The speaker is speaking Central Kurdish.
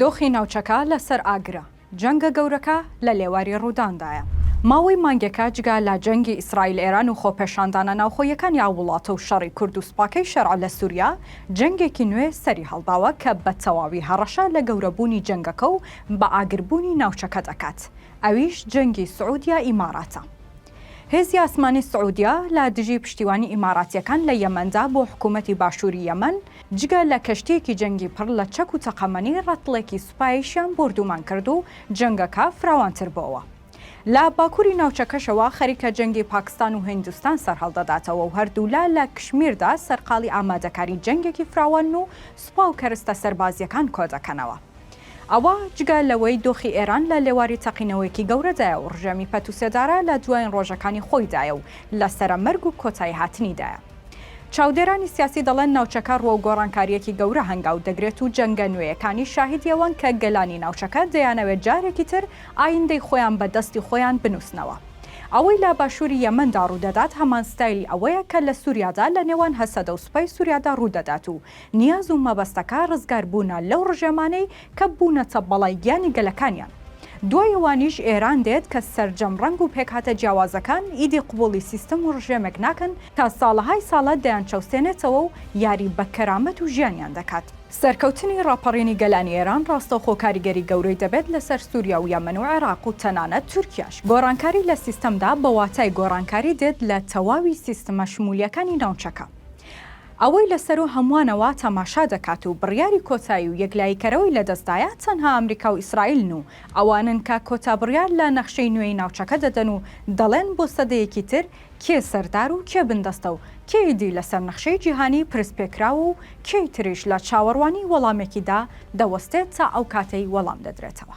دۆخی ناوچەکە لە سەر ئاگرە، جەنگە گەورەکە لە لێواری ڕووداندایە. ماوەی مانگێکە جگە لە جەنگی ئیسرائیل ئێران و خۆپێشاندانە ناوخۆییەکانی ئەو وڵاتە و شەڕی کورد و سوپاکەی شەرع لە سووریا، جەنگێکی نوێ سەری هەڵداوە کە بە تەواوی هەڕەشە لە گەورەبوونی جەنگەکە و بە ئاگربوونی ناوچەکە دەکات، ئەویش جەنگی سعوودیا ئیماراتە. هێزی ئاسمانی سعوودیا لە دژی پشتیوانی ئیماراتییەکان لە یەمەندا بۆ حکوومەتی باشووری یەمەن، جگە لە کەشتییەکی جەنگی پڕ لە چەک و تەقەمەنی، ڕەتڵێکی سوپایشیان بۆردومان کرد و جەنگەکە فراوانتر بۆوە. لە باکووری ناوچەکەشەوە خەریکە جەنگی پاکستان و هیندستان سەرهەڵدەداتەوە و هەردوولا لە کشمیردا سەرقاڵی ئامادەکاری جەنگێکی فراوانن و سوپا و کەرستە سەربازییەکان کۆدەکەنەوە. ئەوە جگە لەوەی دۆخی ئێران لە لێواری تەقینەوەیەکی گەورەدایە و ڕژێمی پەت و سێدارە لە دوایین ڕۆژەکانی خۆیدایە و لە سەرە مەرگ و کۆتاییهاتنیدایە. چاودێرانی سیاسی دەڵێن ناوچەکە ڕووەو گۆڕانکارییەکی گەورە هەنگاو دەگرێت و جەنگە نوێیەکانی شاهیدی ئەوەن کە گەلانی ناوچەکە دەیانەوێت جارێکی تر ئایندەی خۆیان بە دەستی خۆیان بنووسنەوە. ئەوەی لە باشووری یەمەندا ڕوودەدات هەمان ستایلی ئەوەیە کە لە سووریادا لە نێوان هەسەدە و سوپای سووریادا ڕوودەدات و نیاز و مەبەستەکە ڕزگار بوونە لەو ڕژێمانەی کە بوونەتە بەڵای گیانی گەلەکانیان. دوای ئەوانیش ئێران دێت کە سەرجەم ڕەنگ و پێکهاتە جیاوازەکان ئیدی قبوڵی سیستم و ڕژێمێک ناکەن تا ساڵەهای ساڵە دەیانچەوسێنێتەوە و یاری بە کەرامەت و ژیانیان دەکات. سەرکەوتنی ڕاپەڕینی گەلانی ئێران ڕاستەوخۆ کاریگەری گەورەی دەبێت لەسەر سوریا و یەمەن و عێراق و تەنانەت تورکیاش. گۆڕانکاری لە سیستمدا بە واتای گۆڕانکاری دێت لە تەواوی سیستمە شمولیەکانی ناوچەکە. ئەوەی لە سەروو هەمووانەوە تەماشا دەکات و بڕیاری کۆتایی و یەکلاییکەرەوەی لەدەستدایە تەنها ئەمریکا و ئیسرائیلن و ئەوانن کە کۆتا بڕیار لە نەخشەی نوێی ناوچەکە دەدەن و دەڵێن بۆ سەدەیەکی تر کێ سەردار و کێ بندەستە و کێ ئیدی لەسەر نەخشەی جیهانی پرسپێکراوە و کێی تریش لە چاوەڕوانی وەڵامێکیدا دەوەستێت تا ئەو کاتەی وەڵام دەدرێتەوە.